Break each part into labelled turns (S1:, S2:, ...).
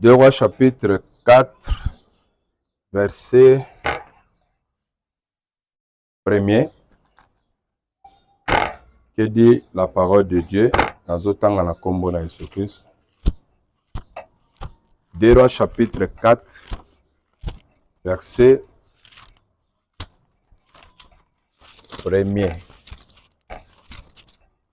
S1: Deux Rois chapitre 4 verset premier que dit la parole de Dieu nazotanga na nkombo na Yesu Kristo. Deux Rois chapitre 4 verset premier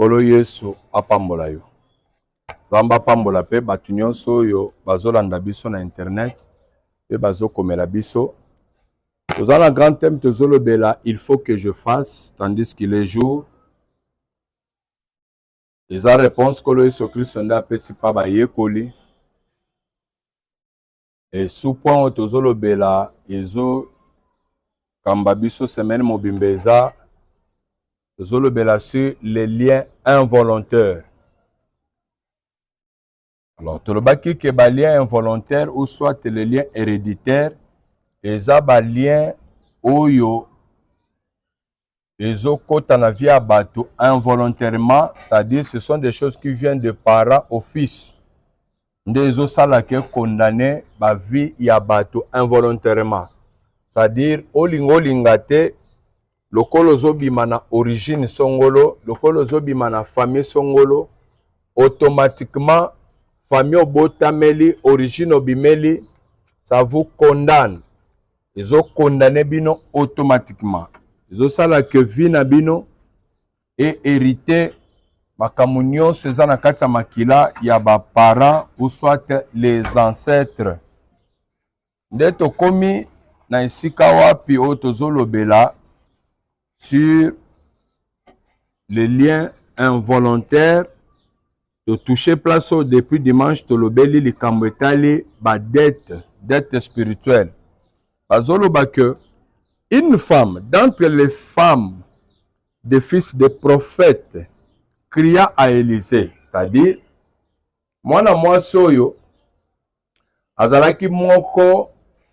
S1: Nkolo Yesu apambola yo. Nzambe apambola mpe bato nyonso oyo bazolanda biso na internet mpe bazokomela biso. Toza na grand thème tozolobela il faut que je fasse tandis qu'il est jour. Eza réponse Nkolo Yesu Kristo nde apesi mpa bayekoli. Et sous point oyo tozolobela ezo kamba biso semaine mobimba eza tozolobela sur les liens involontaires alors tolobaki ke balien involontaire ou soit le lien héréditaire eza balien oyo ezokota na vie ya bato involontairement c'est-à-dire ce sont des choses qui viennent de parents au fils nde ezosala ke condamne ba vie ya bato involontairement c'est-à-dire olinga olinga te lokola ozobima na origine songolo lokola ozobima na famille songolo automatiquement famille obotameli origine obimeli ça vous condamne ezo condamne bino automatiquement ezosala que vie na bino e hérite makambo nyonso eza na kati ya makila ya baparent ou soit les ancêtres nde tokomi na esika wapi oyo tozolobela sur le lien involontaire totouche place oyo depuis dimanche tolobeli likambo etali badette dette spirituelle bazoloba que une femme d'entre les femmes des fils des prophètes cria à Élysée c'est-à-dire mwana mwasi oyo Azalaki moko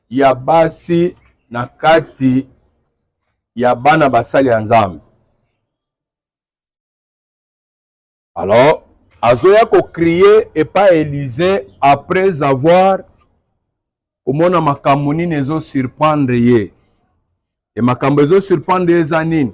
S1: ya basi na kati ya bana basali ya Nzambe. Alors, azoya ko crier epa Elise après avoir komona makambo nini ezo surprendre ye. E makambo ezo surprendre ye eza nini?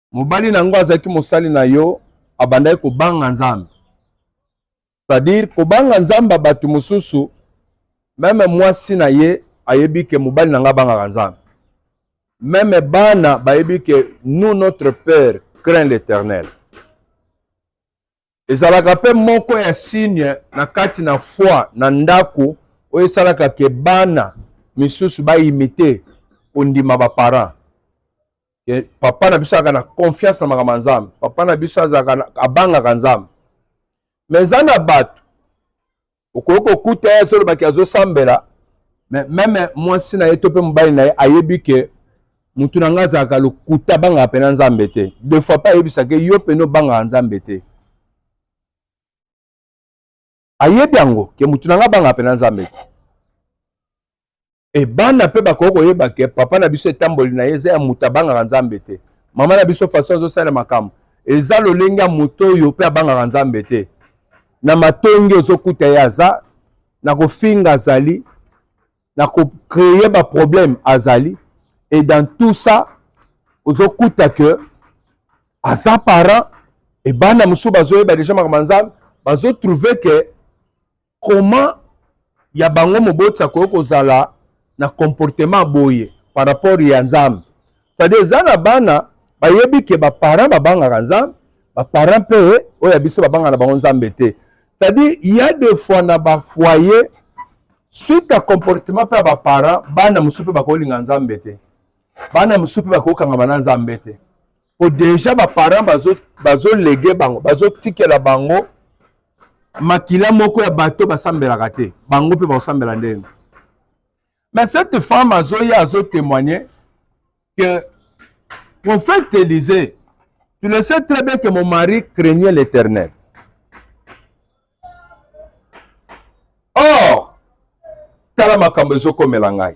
S1: mobali na yango azalaki mosali na yo abandaki kobanga nzambe c'est-à-dire kobanga nzambe ya bato mosusu meme mwasi na ye ayebi ke mobali na ngai abangaka nzambe meme bana bayebi ke nous notre père craint l'éternel Ezalaka mpe moko ya signe na kati na foi na ndako oyo esalaka ke bana misusu baimite kondima baparent. Papa na biso azalaka na confiance na makambo ya Nzambe. Papa na biso azalaka abangaka Nzambe. Mais eza na bato okoki kokuta ye azolobaki azosambela me meme mwasi na ye to mpe mobali na ye ayebi ke motu na ngai azalaka lokuta abangaka mpena nzambe te de fois mpe ayebisaka yo mpena obangaka nzambe te ayebi yango ke motu na ngai abangaka mpena nzambe te e bana mpe bakoki koyeba ke papa na biso etamboli na ye eza ya moto abangaka nzambe te mama na biso faso azosala makambo eza lolenge ya moto oyo mpe abangaka nzambe te na matongi ozokuta ye aza na kofinga azali na kocreye baproblème azali et dans tout ça ozokuta ke aza parent ebana mosusu bazoyeba deja makambo ya nzambe bazotrouve ke Comment ya bango moboti akoki kozala na comportement boye par rapport ya Nzambe? C'est-à-dire eza na bana bayebi ke ba parents babangaka Nzambe, ba parents pe oyo ya biso babanga na bango Nzambe te. C'est-à-dire il y a des fois na ba foyer suite à comportement pe ya ba parents bana mosusu pe bakolinga Nzambe te. Bana mosusu pe bakokangama na Nzambe te. po deja ba parents bazo bazo lege bango bazo tikela bango makila moko ya bato basambelaka te bango mpe bakosambela ndenge mais cette femme azoya azo témoigner que prophète Élisée tu le sais très bien que mon mari craignait l'éternel or tala makambo ezokomela ngai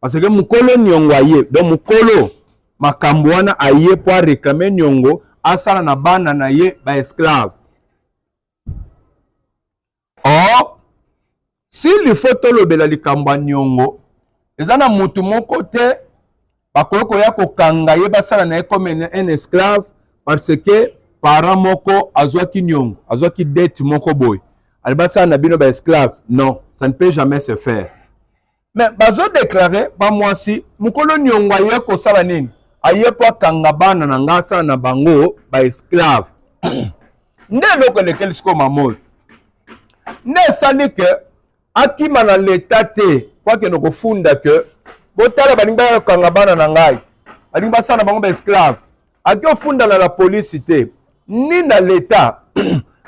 S1: Parce que mukolo niongo aye. Donc mukolo makambo wana aye po a reclamer niongo asala na bana na ye ba esclave. Or s'il faut tolobela likambo ya niongo eza na mutu moko te bakoki koya kokanga ye basala na ye comme un esclave parce que parent moko azwaki niongo azwaki dette moko boye ali basala na bino ba esclave non ça ne peut jamais se faire me bazodeklare bamwasi mokolo niongo aye kosala nini aye mpo akanga bana na ngai asala na bango baesclave nde eloko elekeli sikoyo mama oyo nde esali ke akima na leta te mpo akende kofunda ke botala balingi bakanga bana na ngai balingi basala na bango baesclave ake ofunda na la polisi te ni na leta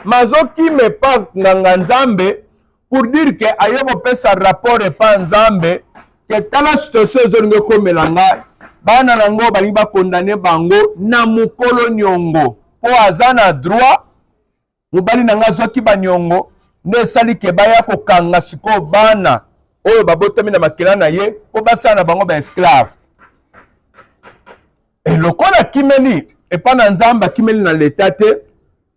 S1: mazokima epa nganga nzambe pour dire que aye kopesa rapport epa nzambe ke tala situation ezolinga ekomela ngai bana na ngo balingi bakondane bango na mokolo niongo mpo aza na droit mobali na ngai azwaki baniongo nde esali ke baya kokanga sikoyo bana oyo babotami na makila na ye mpo basala na bango baesclave e lokola akimeli epa na nzambe akimeli na leta te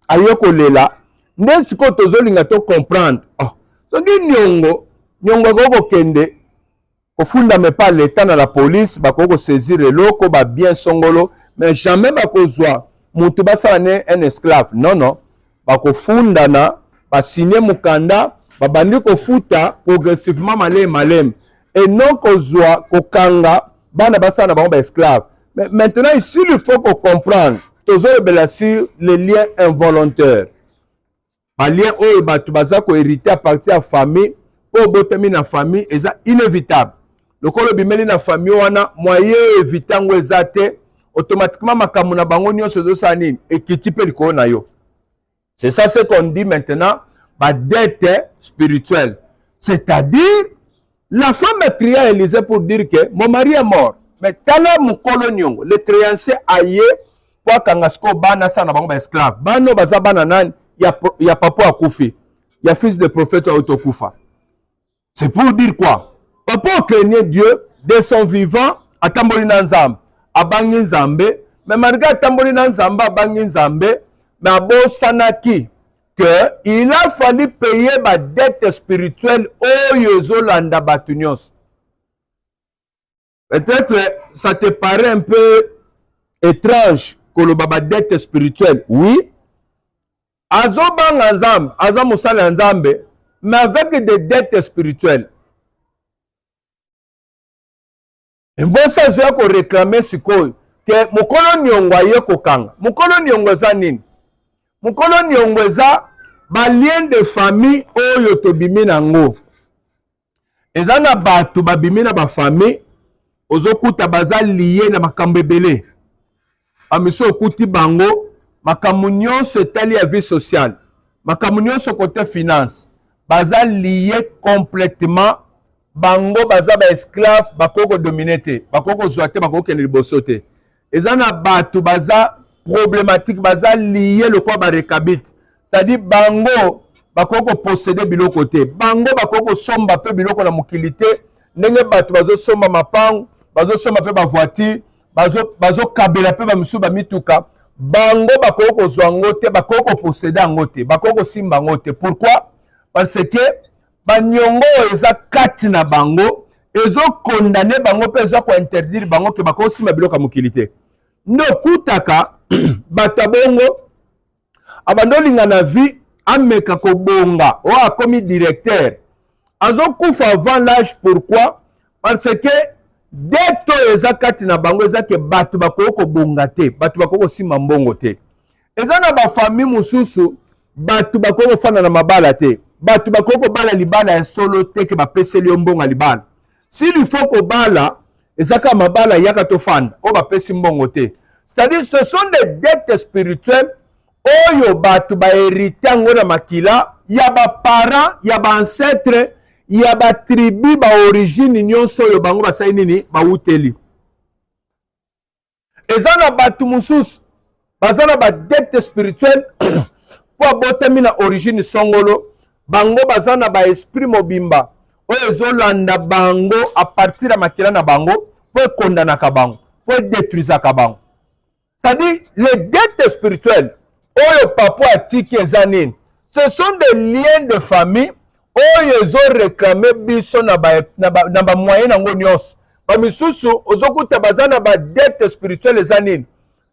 S1: aye kolela nde sikoyo tozolinga to comprendre oh. soki niongo niongo akoki kokende kofundama epa leta na la police bakoki kosaisir eloko babien songolo mais jamais bakozwa motu basala ne un esclave non non bakofundana basigne mokanda babandi kofuta progressivement maleme maleme et non kozwa kokanga bana basala na bango baesclave mais maintenant ici il faut kocomprendre tozolobela sur les liens involontaires balien oyo bato baza koherite à partir ya famille mpo obotami na famille eza inévitable lokola obimeli na famille wana moye evite yango eza te automatiquement makambo na bango nyonso ezosala nini ekiti mpe likolo na yo c'est ça ce qu'on dit maintenant badette spirituelle c'est-à-dire la femme prie à Élysée pour dire que mon mari est mort mais tala mokolo niongo le créancier aye mpo akanga sikoyo bana asala na bango baesclave bana oyo baza bana nani ya, ya papa akufi ya fils de prophète auto kufa c'est pour dire quoi papa okenye dieu de son vivant atamboli na nzambe abangi nzambe mais malgré atamboli na nzambe abangi nzambe mais abosanaki que il a fallu payer ba dette spirituelle oyo ezolanda bato nyonso peut-être ça te paraît un peu étrange koloba badette spirituelle oui azobanga nzambe aza mosali ya nzambe mais avec des dettes spirituelles mbosi azoya koreklame sikoyo ke mokolo niongo aye kokanga mokolo niongo eza nini mokolo niongo eza balien de famille oyo tobimi na yango eza na bato babimi na bafamille ozokuta baza liye na makambo ebele bamisi okuti bango makambo nyonso etali ya vie sociale makambo nyonso kote finance baza liye complètement bango baza baesclave bakoki kodomine te bakoki kozwa te bakoki kokende liboso te eza na bato baza problématique baza lie lokola barekabite c'est-à-dire bango bakoki koposede biloko te bango bakoki kosomba mpe biloko na mokili te ndenge bato bazosomba mapango bazosomba mpe bavoiture bazokabela bazo mpe bamisusu bamituka bango bakoki kozwa yango te bakoki koposede yango te bakoki kosimba yango te pourquoi parce que banyongo oyo eza kati na bango ezokondane bango mpe eza kointerdire bango ke bakoki kosimba biloko ya mokili te nde okutaka bato ya bongo abanda olinga na vie ameka kobonga oyo akomi directeur azokufa avant l'age pourquoi parce que dete oyo eza kati na bango eza ke bato bakoki kobonga te bato bakoki kosimba mbongo te eza na bafamille mosusu bato bakoki kofanda na mabala te bato bakoki kobala libala ya solo te ke bapeseli yo mbongo ya libala sili faut kobala eza kaka mabala yaka tofanda oyo bapesi mbongo te c'est-à-dire ce sont des dettes spirituelles oyo bato baherite yango na makila ya baparent ya baancetre ya batribu baorigine nyonso oyo bango basali nini bawuteli eza na bato mosusu baza na badette spirituelle mpo abotami na origine songolo bango baza na baesprit mobimba oyo ezolanda bango apartir ya makila na bango mpo ekondanaka bango mpo edetruisaka bango c'est-à-dire les dettes spirituelles oyo papa atiki eza nini ce sont des liens de famille oyo ezo réclame biso na ba na ba, na ba moyen nango nyonso ba misusu ozokuta baza na ba dette spirituelle eza nini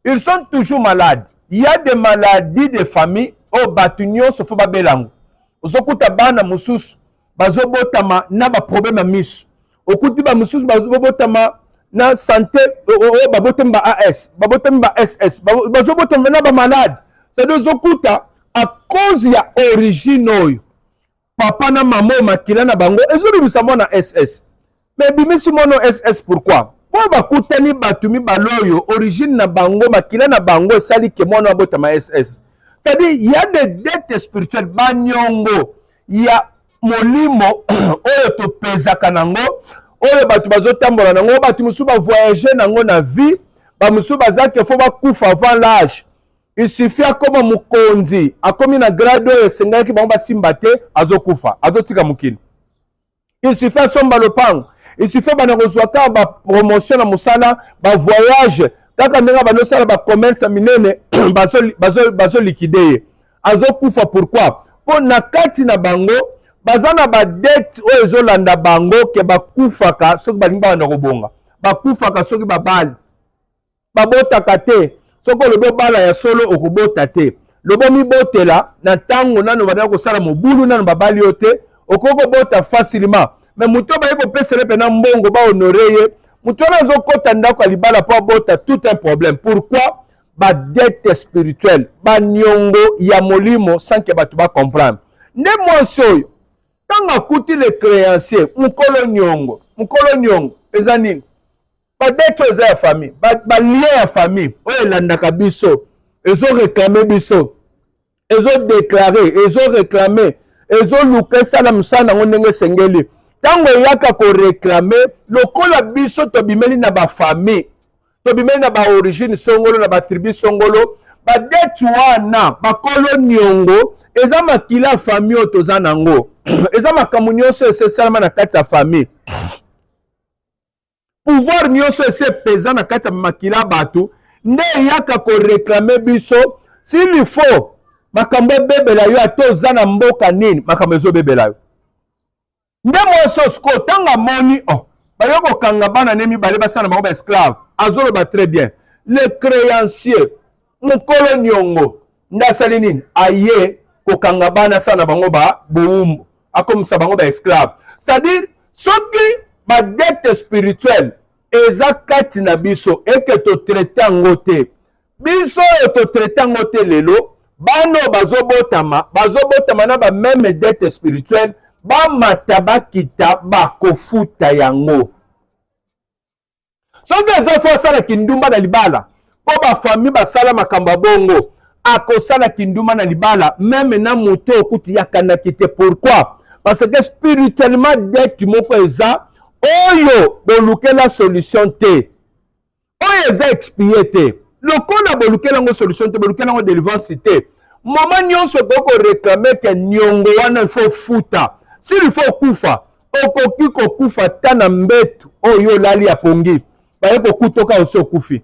S1: ils sont toujours malades il y a des maladies de famille oyo bato nyonso fo babela yango ozokuta bana mosusu bazobotama na baproblème ya miso okuti bamosusu bazobotama na sante oyo babotami ba as babotami ba ss bazobotama na bamalade cetadi ozokuta a cause ya origine oyo papa na mama oyo makila na bango ezobimisa mwana ss Mais bimisi mono SS pourquoi? Oyo bakutani bato mibale oyo origine na bango makila na bango esali ke mwana abotama SS. C'est-à-dire il y a des dettes spirituelles banyongo ya molimo oyo topezaka nango oyo bato bazotambola nango bato mosusu bavoyage nango na vie bamosusu baza ke fo bakufa avant l'age il suffit akoma mokonzi akomi na grade oyo esengelaki bango basimba te azokufa azotika mokili il suffit asomba lopango il suffit bana kozwa kaka bapromotion na mosala bavoyage kaka ndenge bando osala bacommerce ya minene bazolikide ye azokufa pourquoi mpo na kati na bango baza na badete oyo ezolanda bango ke bakufaka soki balingi bana kobonga bakufaka soki babali babotaka te soki olobi obala ya solo okobota te lobo mibotela na ntango nano bandaki kosala mobulu nano babali yo te okoki kobota facilement me moto oyo baye kopesele mpena mbongo bahonore ye moto wana azokɔta ndako ya libala mpo abota tout un problème pourquoi badette spirituelle baniongo ya molimo sanke bato bacomprendre nde mwasi oyo ntango akuti le créancier mokolo niongo mokolo niongo eza nini ba date oyo eza ya famille ba lien ya famille oyo elandaka biso ezo reklame biso ezo deklare ezo reklame ezoluka esala mosala nango ndenge esengeli ntango eyaka koreklame lokola biso tobimeli na bafamille tobimeli na baorigine songolo na batribu songolo badeti wana bakolo niongo eza makila ya famille oyo toza nango eza makambo nyonso esesalama na kati ya famille pouvoir nyonso esi epeza na kati ya makila bato nde eyaka koreklame biso s'il faut makambo ebebela yo ata oza na mboka nini makambo ezobebela yo nde mwasi oyo sikoyo ntango amoni oh, bayo kokanga bana ne mibale basala na bango baesclave azoloba très bien le créancier mokolo niongo nde asali nini aye kokanga bana sa na bango ba bowumbu akomisa bango ba esclave c'est-à-dire soki badete spirituelle eza kati na biso eke totraite yango te biso oyo totraite yango te lelo bana oyo bazobotama bazobotama na bameme dete spirituelle bamata bakita bakofuta yango soki eza fo asala kindumba na libala mpo bafamille basala makambo ya bongo akosala kindumba na libala meme na moto oyo kutu yakanaki te pourquoi parce que spirituellement dette moko eza oyo bolukela solution te oyo eza expie te lokola bolukela yango solution te bolukela yango delivrance te mama nyonso okoki koreklame ke niongo wana ifo ofuta sili ifo okufa okoki kokufa ata na mbetu oyo oh, olali ya pongi baye kokutoka osi okufi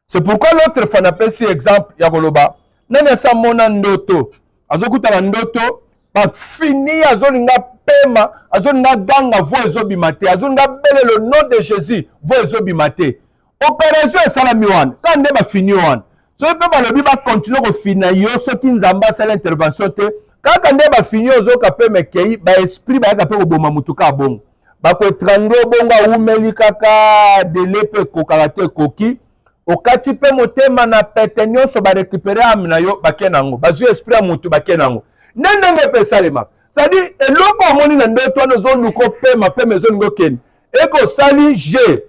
S1: c'est pourquoi l'autre fois napesi exemple ya koloba nani asi amona ndoto azokuta na ndoto bafini azolinga pema azolinga ganga vo ezobima te azolinga bele le nom de jésus vo ezobima te operation esalami wana kaka nde bafini wana soki mpe balobi bakontinue kofina yo soki nzambe asala intervention te kaka nde bafini ozoka mpe mekei baesprit bayaka mpe koboma motu kaka bongo bakoetrangle obongo awumeli kaka dele mpe ekokaka te ekoki okati mpe motema na pete nyonso barekupere ame na yo bake na yango bazwi esprit ya motu bake na yango nde ndenge mpe esalemaka sadi eloko omoni na ndoto wana ozoluka opema pema ezolinga okende ekosali je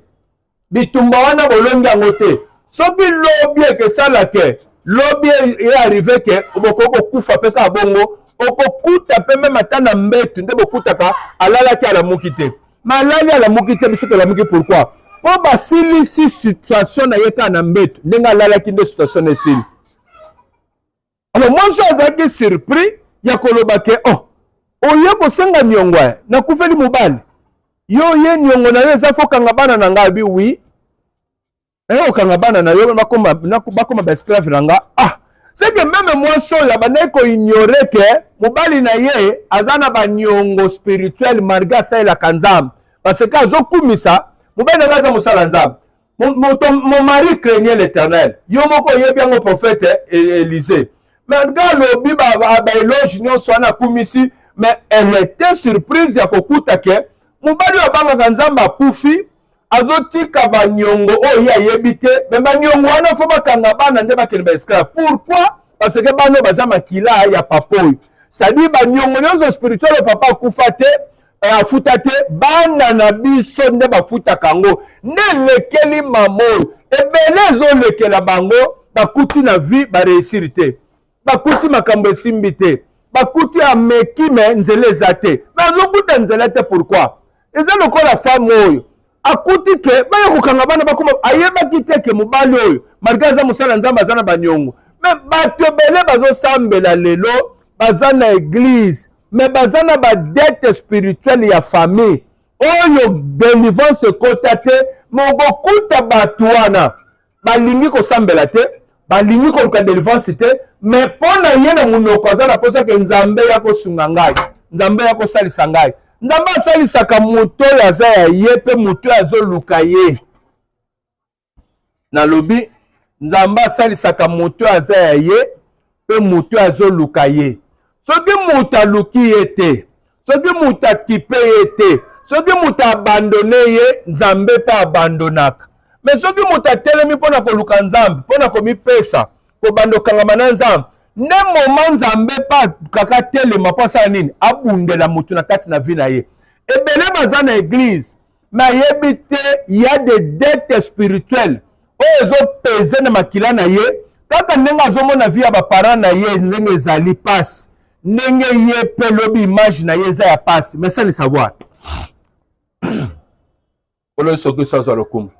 S1: bitumba wana bolongi yango te soki lobi ekesala ke lobi e arrive ke bokoki kokufa mpe kaka bongo okokuta mpe meme ata na mbetu nde bokutaka alalaki alamuki te malali alamuki te biso tolamuki pourkui mpo basilisi situation na ye kaka na mbetu ndenge alalaki nde situation na esili alors mwasi oyo azalaki surpris ya koloba ke oh oye kosenga niongo ya nakufeli mobali yo oye niongo na yo eza fo kanga bana na ngai abi wi naye eh, okanga bana na yo bakoma, bakoma baesclave na nga ah seke meme mwasi oyo abandaki koignore ke mobali na ye aza na baniongo spirituel malgre asalelaka nzambe parce que azokumisa mobali na ngai aza mosala nzambe mon mari craignait l'éternel yo moko oyebi yango prophète Élisée mais nga alobi baeloge nyonso wana akumisi mais elle était surprise ya kokuta ke mobali oyo abangaka nzambe akufi azotika banyongo oyo ye ayebi te me banyongo wana fo bakanga bana nde bakende baesclave pourquoi parce que bana oyo baza makila ya papa oyo cestadire banyongo nyonso spirituel oyo papa akufa te eh, afuta te bana na biso nde bafutaka yango nde elekeli mama oyo ebele ezolekela bango bakuti na vie bareusiri te bakuti makambo esimbi te bakuti ameki me nzela eza te me azokuta nzela te pourkui eza lokola femme oyo akuti ke baya kokanga bana bakoma ayebaki te ke mobali oyo malgre aza mosala ya nzambe aza na baniongo me bato ebele bazosambela lelo baza na eglize me baza na badete spirituelle ya famille oyo delivrance ekota te mokokuta bato wana balingi kosambela te balingi koluka delivrance te me mpo na ye na monoko aza na mposa ke nzambe ya kosunga ngai nzambe ya kosalisa ngai nzambe asalisaka moto oyo aza ya ye mpe moto oyo azoluka ye nalobi nzambe asalisaka moto oyo aza ya ye mpe moto oyo azoluka ye soki moto aluki ye te soki moto akipe ye te soki moto abandone ye nzambe mpe abandonaka me soki moto atelemi mpo na koluka nzambe mpo na komipesa kobanda okangama na nzambe nde moma nzambe mpe akaka atelema mpo asala nini abundela moto na kati na vi na ye ebele baza na eglize nayebi te ya de dette spirituelle oyo ezopeze na makila na ye kaka ndenge azomona vi ya baparent na ye ndenge ezali mpasi ndenge ye mpe lobi image na ye eza ya mpasi mais sans le savoir kolo soki sazwa lokumu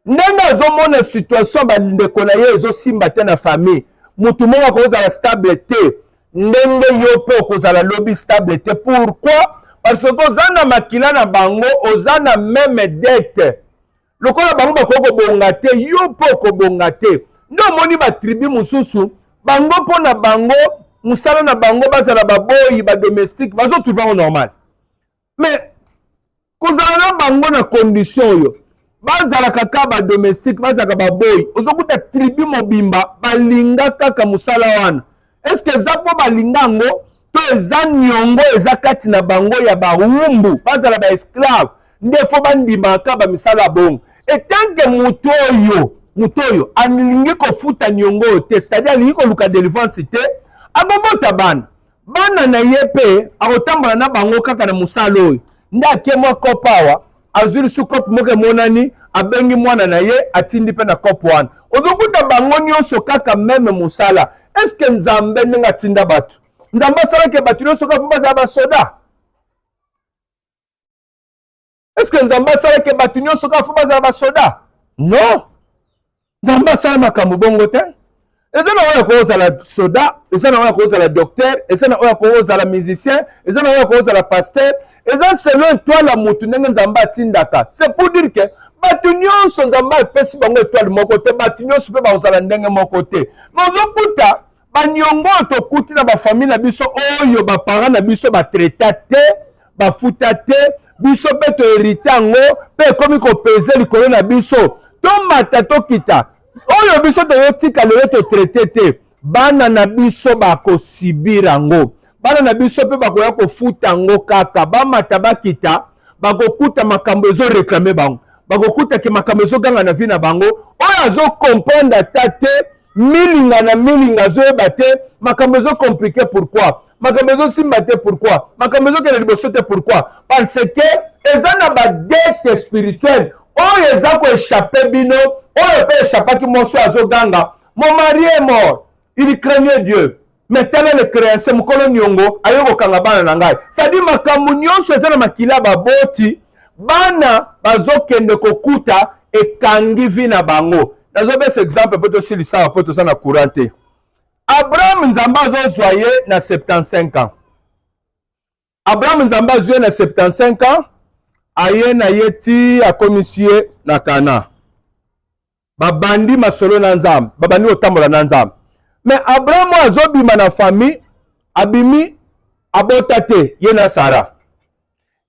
S1: ndenge azomona situation ya bandeko na ye ezosimba te na famille motu moko akozala stable te ndenge yo mpe okozala lobi stable te pourquoi parce que oza na makila na bango oza na meme dette lokola bango bakoki kobonga te yo mpe okobonga te nde omoni batribu mosusu bango mpo na bango mosala na bango bazala baboyi badomestique bazotrouve yango normal mais kozala na bango na condition oyo bazalaka kaka badomestique bazalaka baboyi ozokuta tribu mobimba balinga kaka mosala wana estce eza mpo balinga yango to eza niongo eza kati na bango ya bawumbu bazala baesclave nde fo bandimaka kaka bamisala ya bongo etanke moto oyo moto oyo alingi kofuta niongo oyo te c'est-à-dire alingi koluka delivrance te akobota bana bana na ye mpe akotambola na bango kaka na mosala oyo nde ake mwa kope awa azwi lisu kope moko emonani abengi mwana na ye atindi mpe na kope wana ozokuta bango nyonso kaka meme mosala eske nzambe ndenge atinda bato nzambe asalaki bato nyonso kaka mpo bazala basoda est ce que nzambe asalaki bato nyonso kaka fo bazala basoda non nzambe asala makambo bongo te eza na oyo akoki ozala soda eza na oyo akoki ozala docteur eza na oyo akoki ozala musicien eza na oyo akoki ozala pasteur eza selon etoile ya motu ndenge nzambe atindaka c'est pour dire que bato nyonso nzambe apesi bango etoile moko te bato nyonso mpe bakozala ndenge moko te mais ozokuta baniongo oyo tokuti na bafamille na biso oyo baparent na biso batraita te bafuta te biso mpe toherite yango mpe ekomi kopeze likolo na biso tomata tokita oyo biso toyotika lelo totraite te bana na biso bakosibir yango bana na biso mpe bakoya kofuta yango kaka bamata bakita bakokuta makambo ezoreklame bango bakokuta ke makambo ezoganga na vi na bango oyo azokomprendre ata te milinga na milinga azoyeba te makambo ezo compliqué pourquoi makambo ezosimba te pourquoi makambo ezokende liboso te pourquoi parce que eza na badete spirituelle oyo eza koechappe bino oyo mpe echapaki mwasi oyo azoganga mon mari est mort il craignait dieu me tala le creance mokolo niongo aye kokanga bana na ngai sadi makambo nyonso eza na makila baboti bana bazokende kokuta ekangi vi na bango nazopesa exemple mpo tosilisaka mpo toza na courant te abraham nzambe azozwa ye na 75 ans Abraham Nzambe azwi ye na 75 ans, aye na ye ti akomisi ye na Kana. Babandi masolo na Nzambe, babandi kotambola na Nzambe. Mais Abraham oyo azobima na famille, abimi abota te, ye na Sara.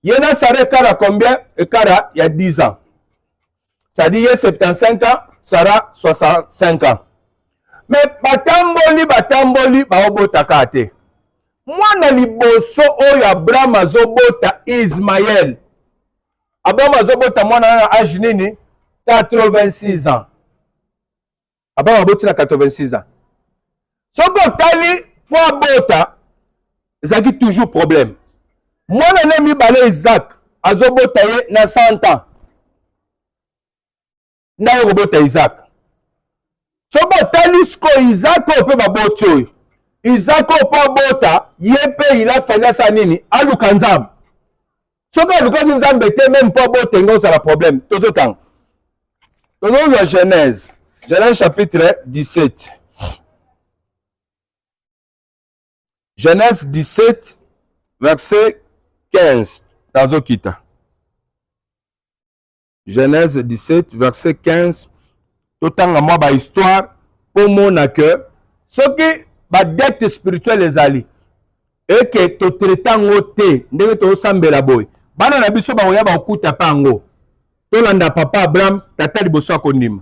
S1: Ye na Sara ekara combien? Ekara ya 10 ans. c'est-à-dire ye 75 ans sara 65 ans me batamboli batamboli baobota kaka te mwana liboso oyo abraham azobota ismael abraham azobota mwana wana age nini 86 ans Abraham aboti na 86 ans. Soki otali mpo abota ezalaki toujours problème. Mwana na mibale Isaac azobota ye na 100 ans. Ndako okobota Isaac. Soki otali sikoyo Isaac oyo mpe baboti oyo Isaac oyo mpo abota ye mpe il a fallu asala nini? Aluka Nzambe. soki alukaki nzambe te meme mpo abote nga ozala problème tozotanga tozozwa genèse genèse chapitre 17 genèse 17 verset 15 tazokita Genèse 17 verset 15 totanga mwa ba histoire mpo mona que soki ba dette spirituelle ezali eke totraite yango te ndenge tosambela boye bana na biso bakoya bakokuta mpe yango tolanda papa abraham tata liboso ya kondima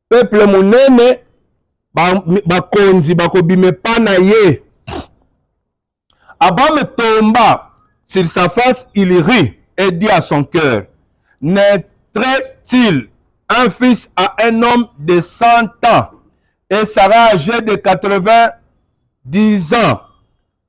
S1: peuple monene bakonzi ba bakobima epa na ye abame tomba sur sa face il rit et dit à son cœur naîtrait-il un fils à un homme de 100 ans et sera âgé de 90 ans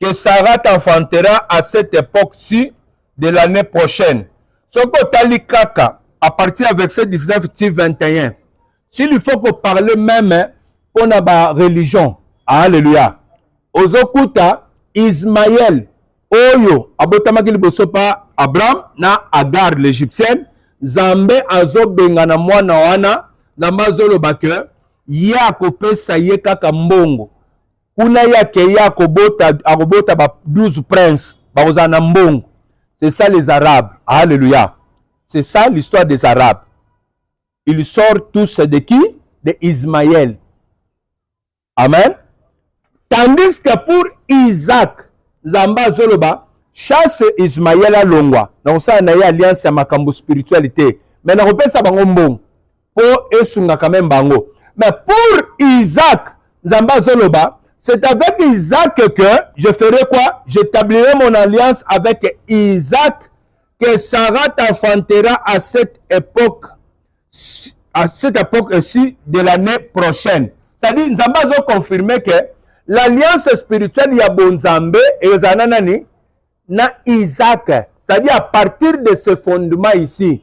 S1: que Sarah t'enfantera à cette époque-ci de l'année prochaine. Soki otali kaka à partir ya verset 19 ti 21 s'il faut koparle meme mpo na bareligion alleluya ozokuta ismael oyo abotamaki liboso mpa abraham na agar l'égyptienne nzambe azobengana mwana wana nzambe azoloba ke ye akopesa ye kaka mbongo kuna ye akei akobota akobota ba 12 prince bakozala na mbongo c'est ça les arabes alleluya c'est ça l'histoire des arabes ils sortent tous de qui de ismaël amen tandis que pour isaac nzambe azoloba chasse ismaël alongwa na kosala na ye alliance ya makambo spirituel te me nakopesa bango mbongo po esunga quand même bango mais pour Isaac Nzambe azoloba c'est avec Isaac que je ferai quoi j'établirai mon alliance avec Isaac que Sarah t'enfantera à cette époque à cette époque ici de l'année prochaine c'est-à-dire Nzambe azo confirmer que l'alliance spirituelle ya bonzambe ezala na nani na Isaac c'est-à-dire à partir de ce fondement ici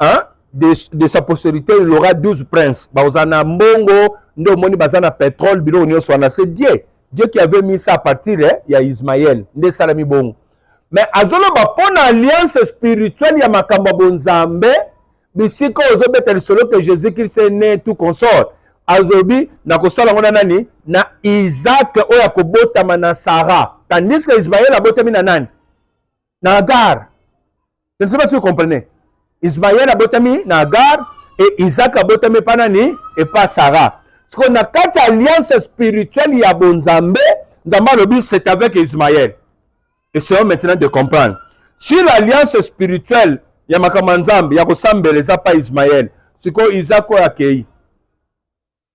S1: hein? de, de sa posterité il aura 12 princes baoza na mbongo nde omoni baza na petrole biloko nyonso wana c'est dieu dieu qui avait mis ça à partir eh, ya ismael nde esalami bongo mais azoloba mpo na alliance spirituelle ya makambo ya bonzambe bisika ozobeta lisolo ke jésus christ est né tout consort azobi nakosala yango na nani na isaac oyo akobotama na sara tandis ke ismael abotami na nani na Agar. Je ne sais pas si vous comprenez. Ismaël abotami na Agar et Isaac abotami epa nani epa Sarah. Siko na kati ya alliance spirituelle ya bonzambe, Nzambe alobi c'est avec Ismaël. Essayons maintenant de comprendre. Si l'alliance spirituelle ya makambo ya Nzambe ya kosambela eza pa Ismaël, sikoyo Isaac oyo akei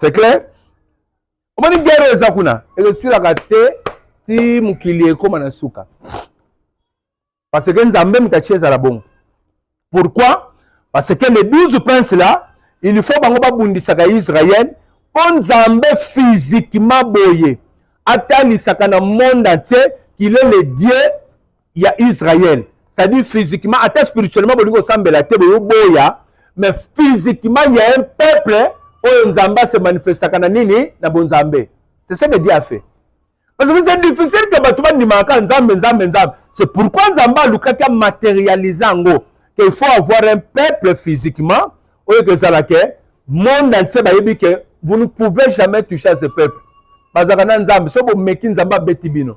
S1: c'est clair omoni guerre eza kuna ezosilaka te ti mokili ekóma na suka parce que nzambe moto atie ezala bongo pourquoi parce que les 12 princes là il faut bango babundisaka israel mpo nzambe physiquement boye atalisaka na monde entier qu'il est le dieu ya Israël c'est-à-dire physiquement ata spirituellement bolingi kosambela te boyoboya mais physiquement il y a un peuple oyo Nzambe se manifestaka na nini na bonzambe c'est ce que Dieu a fait parce que c'est difficile que bato bandimaka Nzambe Nzambe Nzambe c'est pourquoi Nzambe alukaki amatérialise yango qu'il faut avoir un peuple physiquement oyo kezala ke monde entier bayebi ke vous ne pouvez jamais toucher à ce peuple bazalaka na Nzambe so bomeki Nzambe abeti bino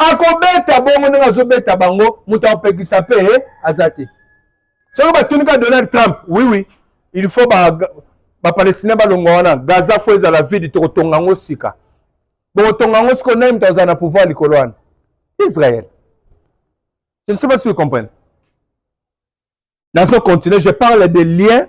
S1: akobeta bongo ndenge azobeta bango moto akopekisa mpe eh, aza te soki batuni ka donald trump wiwi oui, il faut bapalestinien ba balongwa wana gaza fo ezala vide tokotonga yango sika bokotonga yango sikoyo nani moto azala na pouvoir likolo wana israel je ne sais pas si vous comprenez nazo continue je parle de lien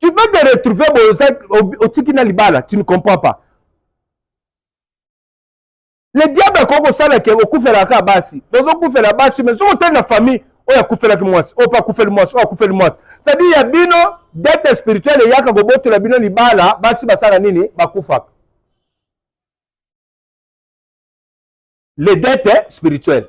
S1: tu peux te retrouver boza otiki na libala tu ne comprends pas le diable akoki kosala ke okufelaka kaka basi bozokufela basi mais soki otali na famille oyo akufelaki mwasi oyo mpe akufeli mwasi oyo akufeli mwasi cetadire ya bino dete spirituel eyaka kobotola bino libala basi basala nini bakufaka le dete spirituel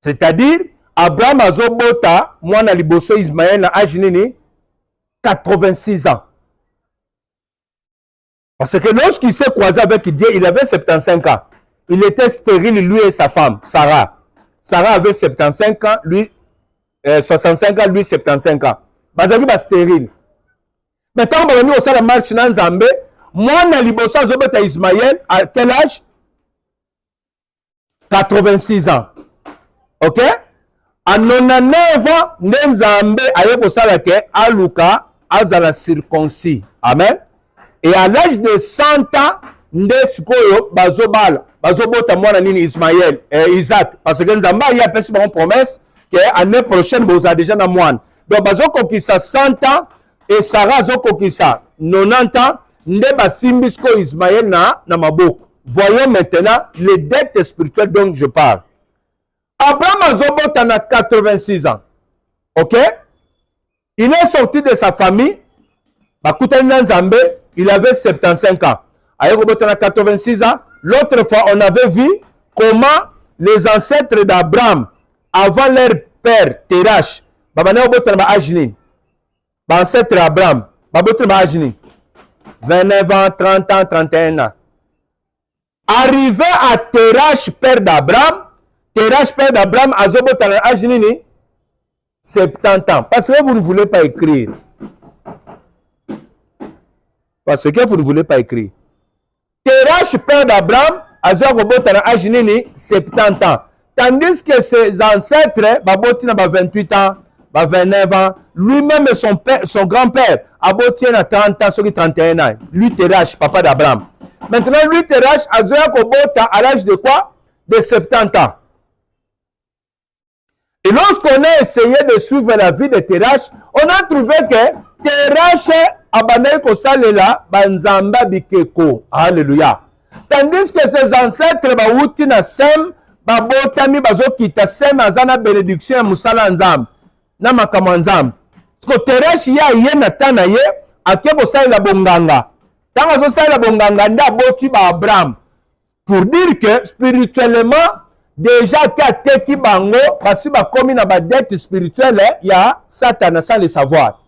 S1: c'est-à-dire abraham azobota mwana liboso ismael na age nini 86 ans parce que lorsqu'il s'est croisé avec dieu il avait 75 ans il était stérile lui et sa femme sarah sarah avait 75 ans lui euh, 65 ans lui 75 ans bazalaki bastérile mais ntango babandi kosala marche na nzambe mwana liboso azobeta ismael à quel âge 86 ans ok a 99 ans nde nzambe aye kosala ke aluka azala circoncis amen et à l'âge de 100 ans nde sikoyo bazobala bazobota mwana nini ismael eh, isaac parce que nzambe aye apesi bango promesse ke année prochaine bozala deja na mwana donc bazokokisa 100 ans et Sarah azokokisa 90 ans nde basimbi sikoyo Ismaël na, na maboko voyons maintenant les dettes spirituelles donc je parle Abraham azobota na 86 ans ok il est sorti de sa famille bakutani na Nzambe il avait 75 ans aye kobota na 86 ans l'autre fois on avait vu comment les ancêtres d'Abraham avant leur père Terach babandaki kobota na ba age nini bancetre abraham baboti na baage nini 29 ans 30 ans 31 ans arrivé à terrache père d'abraham terrache père d'abraham azobota na age nini 70 ans parce que vous ne voulez pas écrire parce que vous ne voulez pas écrire Terash, père d'Abraham, azwa kobota na age nini 70 ans tandis que ses ancêtres baboti na ba 28 ans ba 29 ans lui-même son, son grand-père aboti ye na 30 ans soki 31 ans lui Terash, papa d'Abraham maintenant lui Terash azoya kobota à l'âge de quoi de 70 ans Et lorsqu'on a essayé de suivre la vie de Terach, on a trouvé que Terach abandaki kosalela banzamba bikeko. Alléluia. Tandis que ses ancêtres bawuti na Sem, babotami bazokita Sem aza na bénédiction ya mosala ya Nzambe, na makambo ya Nzambe. Siko Terach ye aye na temps na ye, ake kosalela bonganga. Ntango azosalela bonganga nde aboti ba Abraham. pour dire que spirituellement deja ake ateki bango basi bakomi na badete spirituelle ya satana sans le savoir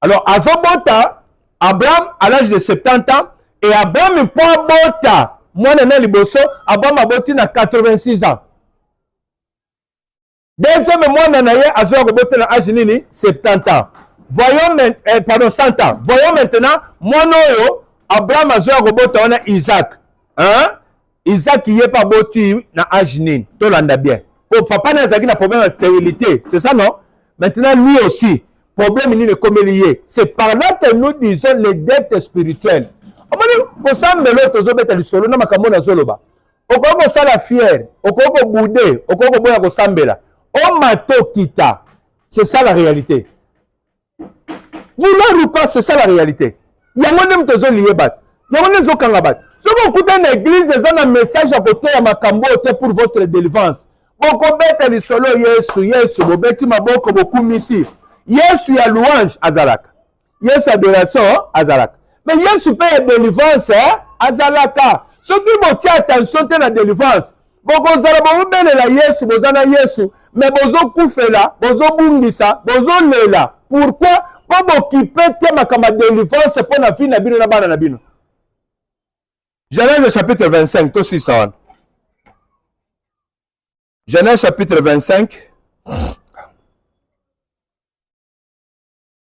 S1: alors azobota abraham à l'âge de 70 ans et abraham mpo abota mwana na liboso abraham aboti na 86 ans deuxième mwana na ye azoya kobotela age nini 70 ans voyons men, eh, pardon 100 ans voyons maintenant mwana oyo abraham azoya kobota wana isaac hein? isaac ye mpe aboti na age nini tolanda bien po papa naye azalaki na problème ya stérilité c'est ça non maintenant lui aussi problème nini ekomeli ye c'est par là que nous disons les dettes spirituelles omoni kosambela oyo tozobeta lisolo na makambo oyo nazoloba okoki kosala fiere okoki kobude okoki koboya kosambela omata okita c'est ça la réalité vouloir ou pas c'est ça la réalité yango nde moto ezoliye bato yango nde ezokanga bato soki okutani na eglize eza na message ya koteya makambo oyo te pour votre délivrance bokobeta lisolo yesu yesu bobeti maboko bokumisi yesu ya louange azalaka yesu adoration azalaka me yesu mpe ya delivrance eh, azalaka soki botia attention te na delivrance bokozala bokobelela yesu boza na yesu me bozokufela bozobungisa bozolela pourkui mpo bokipe te makambo ya delivrance mpo na vi na bino na bana na bino genèse chapitre 25 tosisa wana genèse chapitre 25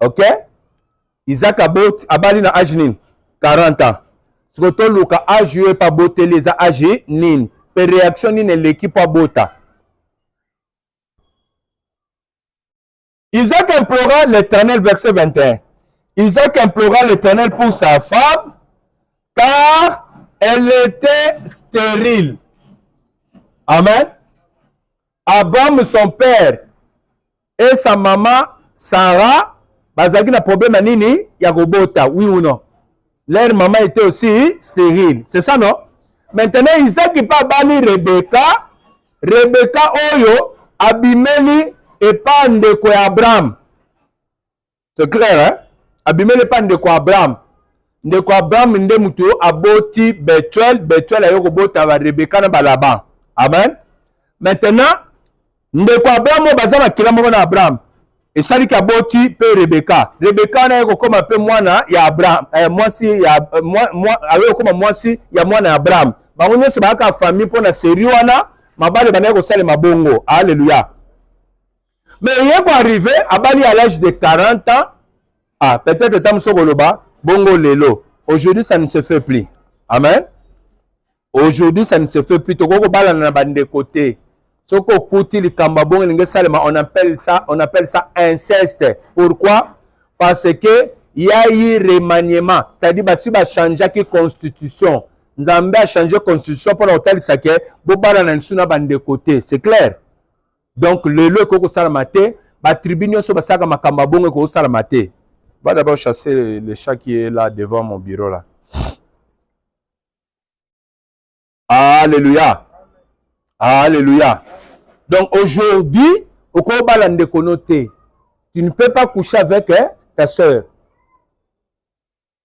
S1: ok isaac aboti abali na age nini 40 ans siko toluka age yo epa aboteli eza age nini mpe reaction nini eleki mpo abota isaac implora l'éternel verset 21 isaac implora l'éternel pour sa femme car elle était stérile amen abraham son père et sa maman Sarah bazalaki na problème ya nini ya kobota oui ou non leur maman était aussi stérile c'est ça non maintenant Isaki mpe abali Rebeka Rebeka oyo abimeli epa ndeko ya Abraham C'est clair, hein? Abimele pa ndeko Abraham. Ndeko Abraham nde mutu yo aboti Betuel, Betuel ayo kobota ba Rebecca na ba Laban. Amen. Maintenant, ndeko Abraham oyo baza makila moko na Abraham. Esaliki aboti pe Rebecca. Rebecca wana ayo kokoma pe mwana ya Abraham, eh, mwasi ya eh, mwa, mwa, ayo kokoma mwasi ya mwana ya Abraham. Bango nyonso bayaka famille mpo na serie wana, mabale bandaki kosalema bongo. Haleluya. mais ye ko arrive abali à l'âge de 40 ans ah peut-être ta mosusu okoloba bongo lelo aujourd'hui ça ne se fait plus amen aujourd'hui ça ne se fait plus tokoki kobalana na bandeko te soki okuti likambo abongo elingi esalema on appelle ça on appelle ça inceste pourquoi parce que ya ye remaniement c'est-à-dire basi bachangeaki constitution nzambe achange constitution mpo na kotalisa ke bobalana lisusu na bandeko te c'est clair donc lelo ekoki kosalama te batribu nyonso basalaka makambo ya bongo ekoki kosalama te va d'abord chasser le, le chat qui est là devant mon bureau là alléluia alléluia donc aujourd'hui okoki obala ndeko no te tu ne peux pas coucher avec eh, ta sœur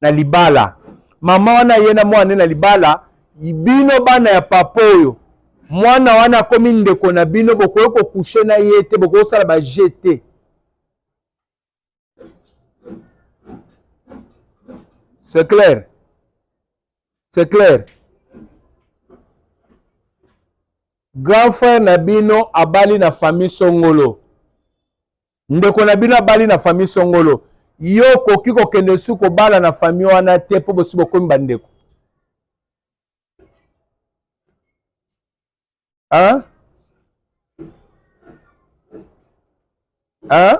S1: na libala mama wana aye na mwana ne na libala bino bana ya papa oyo mwana wana akomi ndeko na bino bokoki kokushe na ye te bokoki kosala baje te c'est clair c'est clair grand frère na bino abali na famille songolo ndeko na bino abali na famille songolo yo okoki kokende su kobala na famille wana te mpo bosi bokomi bandeko hein? Hein?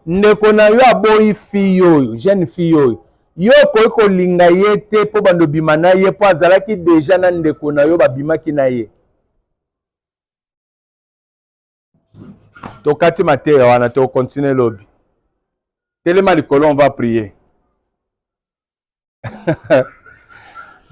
S1: ndeko na yo aboyi fille oyo jeune fille oyo yo okoki kolinga ye te mpo bando bima na ye mpo azalaki deja na ndeko na yo babimaki na ye tokati mateya wana tokontinue lobi telema likolo on va prier